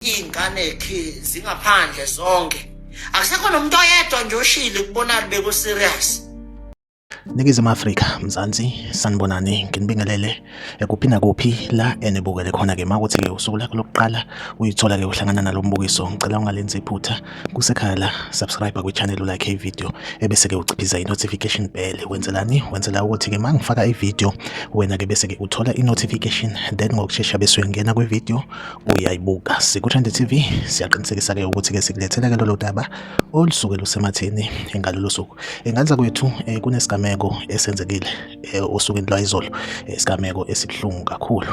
iy'nganekhi zingaphandle zonke akusekho nomuntu oyedwa nje oshile kubonani beku-serious ningizimu afrika mzansi sanibonani nginibingelele Kuphi nakuphi la enibukele khona-ke uma kuthi-ke usuku lakho lokuqala uyithola-ke uhlangana nalo mbukiso ngicela ungalenzi iphutha kusekhaya la subscribe kwi-channel ulike ividiyo ebese-ke uciphiza i-notification bell wenzelani wenzela ukuthi-ke uma ngifaka ividiyo wena-ke bese-ke uthola i-notification then ngokushesha bese uyangena kwividiyo uyayibuka siku-trend tv siyaqinisekisa-ke ukuthi-ke sikulethela-ke lolo daba olusuke lusematheni engalolo suku enganza kwethu um kunesigameko esenzekile eh, osukwini lwayizolo eh, isigameko esibuhlungu kakhulu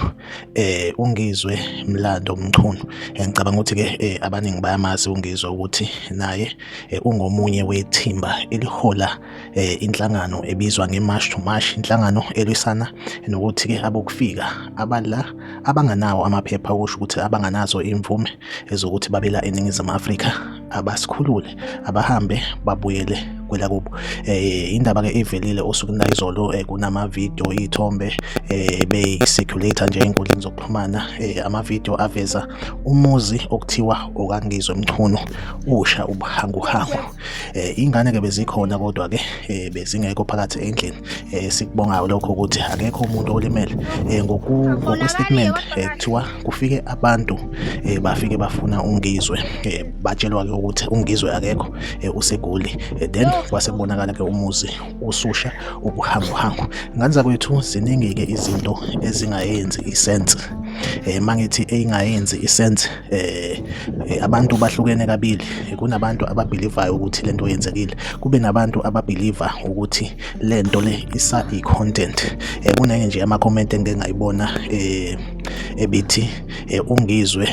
eh ungizwe mlando mchunu eh, ngicabanga ukuthi ke eh, abaningi bayamazi ungizwe ukuthi naye eh, ungomunye wethimba elihola eh, inhlangano ebizwa ngeMarch to March inhlangano elwisana nokuthi ke abokufika abala abanganawo amaphepha okusho ukuthi abanganazo imvume ezokuthi babela eningizimu Afrika abasikhulule abahambe babuyele kwelakubo eh indaba ke ivelile usuku nayizolo eh, kunama video ithombe eh be circulator nje enkundleni zokuxhumana eh, ama video aveza umuzi okuthiwa okangizwe mchunu usha ubuhangu hangu eh ingane ke bezikhona kodwa ke eh, bezingekho phakathi endlini eh, sikubonga lokho ukuthi akekho umuntu olimele eh, ngoku ngokwe statement eh, kuthiwa kufike abantu eh, bafike bafuna ungizwe eh, batshelwa-ke ukuthi ungizwe akekho eh, usegoli eh, then kwase kubonakala-ke umuzi ususha ubuhanguhangu ngane zakwethu ziningi-ke izinto ezingayenzi isense eh mangithi eyingayenzi isense eh, eh abantu bahlukene kabili kunabantu ababelivayo ukuthi lento yenzekile kube nabantu ababeliva ukuthi lento le isa i content eh kunenye nje ama comment engingayibona eh ebithi e, ungizwe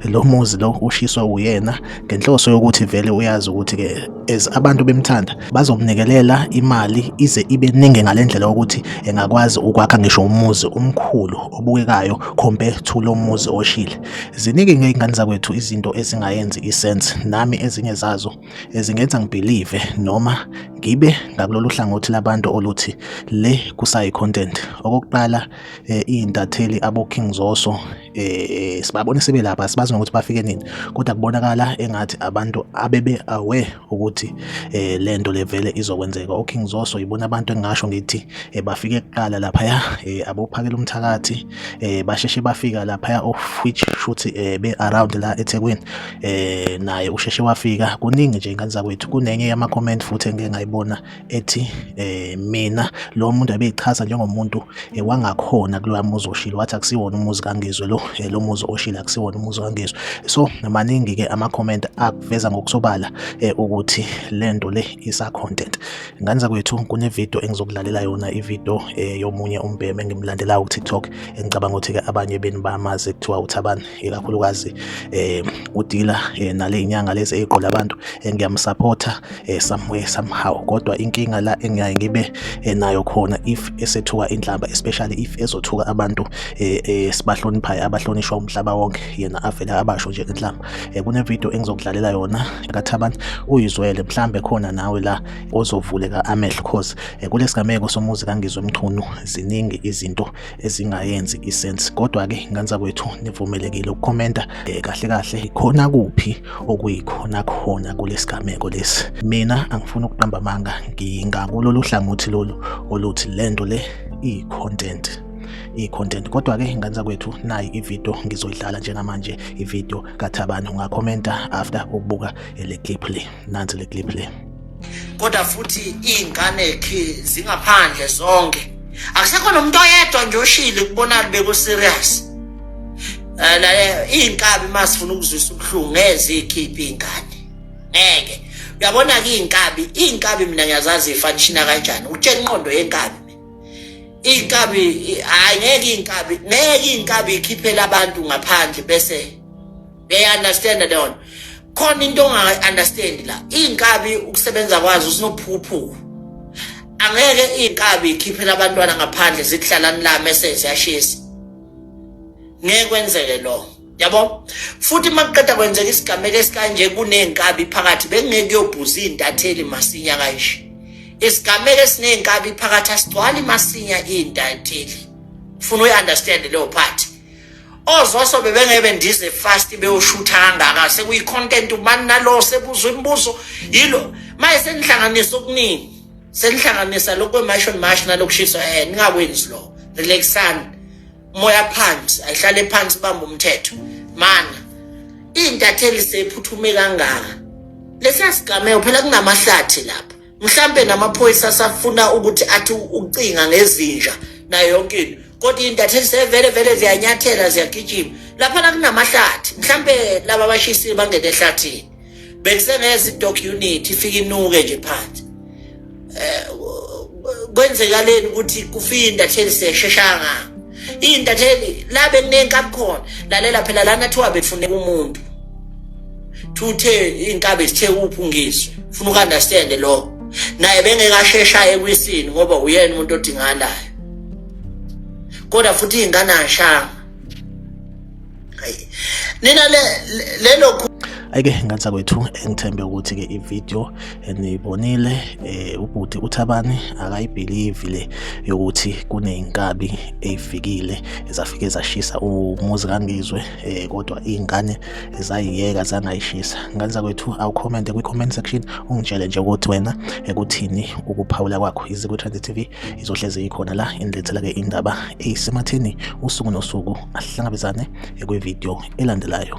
lo muzi lo ushiswa uyena ngenhloso yokuthi vele uyazi ukuthi ke as abantu bemthanda bazomnikelela imali ize ibe ningi ngalendlela ukuthi engakwazi ukwakha ngisho umuzi omkhulu obukekayo compare to lo muzi oshile ziningi ngeyingane zakwethu izinto ezingayenzi isense nami ezinye zazo ezingenza ngibelieve noma ngibe ngakulolu hlangothi labantu oluthi le kusayi content okokuqala eh, iy'ntatheli aboking zoso eh, sibabone sebelapha sibazi nokuthi bafike nini kodwa kubonakala engathi abantu abebe aware ukuthi eh, le nto levele izokwenzeka oking zoso yibona abantu engingasho ngithi eh, bafike kuqala laphaya eh, abophakela umthakathi eh, basheshe bafika laphaya of which shuthi eh, be around la ethekwini eh, naye usheshe wafika kuningi nje ingane zakwethu kunenye yama-comment futhi engike ngayibona ethi eh mina lo muntu abeyichaza njengomuntu eh, wangakhona kuloya muzi oshilo wathi akusiwona umuzi kaNgizwe lo eh, lo muzi oshilo akusiwona umuzi kaNgizwe so maningi ke ama comment akuveza ngokusobala eh, ukuthi lento le isa content ngani zakwethu kune video engizokulalela yona i video yomunye umbheme engimlandelayo ku TikTok engicabanga ukuthi ke abanye beni bamazi kuthiwa uthabani ikakhulukazi eh udila eh, nale inyanga lezi eziqola abantu eh, ngiyamsupport eh, somewhere somehow kodwa inkinga la engiyaye ngibe eh, nayo khona if esethuka inhlamba especially if ezothuka abantu eh, eh, sibahloniphayo abahlonishwa umhlaba wonke yena avele abasho nje inhlamba eh, kune video engizokudlalela yona kathaban uyizwele mhlambe khona nawe la ozovuleka amehlo cause eh, kulesigameko somuzi kangizwe mchunu ziningi izinto ezingayenzi isense kodwa ke nganza kwethu nivumelekile ukukhomenta eh, kahle kahle ikhona kuphi okuyikhona khona kulesigameko lesi mina angifuni ukuqamba amanga ngingakulolu hlangothi lolu oluthi lento le iyi content i-content kodwa ke ingane zakwethu nayi ivideo ngizoyidlala njengamanje ivideo kathabani ungakhomenta after ukubuka le clip le nansi le clip le kodwa futhi iy'ngane khe zingaphandle zonke akusekho nomuntu oyedwa nje oshile kubonani beku-serious um iy'nkabi uma sifuna ukuzwisa ubuhlungu ngeze ikhiphe iy'ngane ngeke uyabona-ke iy'nkabi iy'nkabi mina ngiyazazi ifanishina kanjani utshela inqondo yenkabi iy'nkabi hhayi ngeke iy'nkabi ngeke iy'nkabi ikhiphele abantu ngaphandle bese ngiyayiunderstanda leyo nto khona into ongayi-understandi la iy'nkabi ukusebenza kwazo sinophukuphuku angeke iy'nkabi ikhiphela abantwana ngaphandle zikuhlalani la mese ziyashisa ngeke kwenzeke lo yabo futhi uma kuqeda kwenzeka isigameko esikanje kuney'nkabi phakathi bekungeke kuyobhuza iy'ntatheli masinya kanje isigameko esiney'nkabi phakathi asigcwali masinya iy'ntatheli funa uyi-understand leyo phathi ozoso bebengebe ndize fast beyoshutha kangaka sekuyi content ubani nalo sebuza imibuzo yilo maye senihlanganisa okuningi senihlanganisa lokho kwemasho mash nalokushiswa eh ningakwenzi lo relaxani moya phansi ayihlale phansi bamba umthetho mana intatheli sephuthume kangaka lesiyasigameko phela kunamahlathi lapha mhlampe namaphoyisa asafuna ukuthi athi ucinga ngezinja nayo yonke into kodwa iy'ntatheli sevele vele ziyanyathela ziyagijima laphana kunamahlathi mhlampe laba abashisi bangene ehlathini bekusengeza i-doc unit ifike inuke nje phansi um kwenzekaleni ukuthi kufike intatheli sesheshanga iy'ntatheli la bekuney'nkabi khona lalela phela lana thiwa befuneka umuntu thuthe iy'nkabi zithe uphungiswe funa uku-understande lokho naye bengeke asheshayo ekwisini ngoba uyena umuntu odingalayo kodwa futhi iy'ngane ashanga hayi nina le lelo ayike ngansa kwethu engithembe ukuthi ke ivideo enibonile eh ubhuti uthabani akayibelieve le yokuthi kuneyinkabi ezifikile ezafike zashisa umuzi kangizwe eh kodwa izingane ezayiyeka zangayishisa ngansa kwethu awu comment kwi comment section ungitshele nje ukuthi wena ekuthini ukuphawula kwakho izikwe Trend TV izohlezi ikhona la inilethela ke indaba eyisematheni usuku nosuku asihlangabezane kwividiyo elandelayo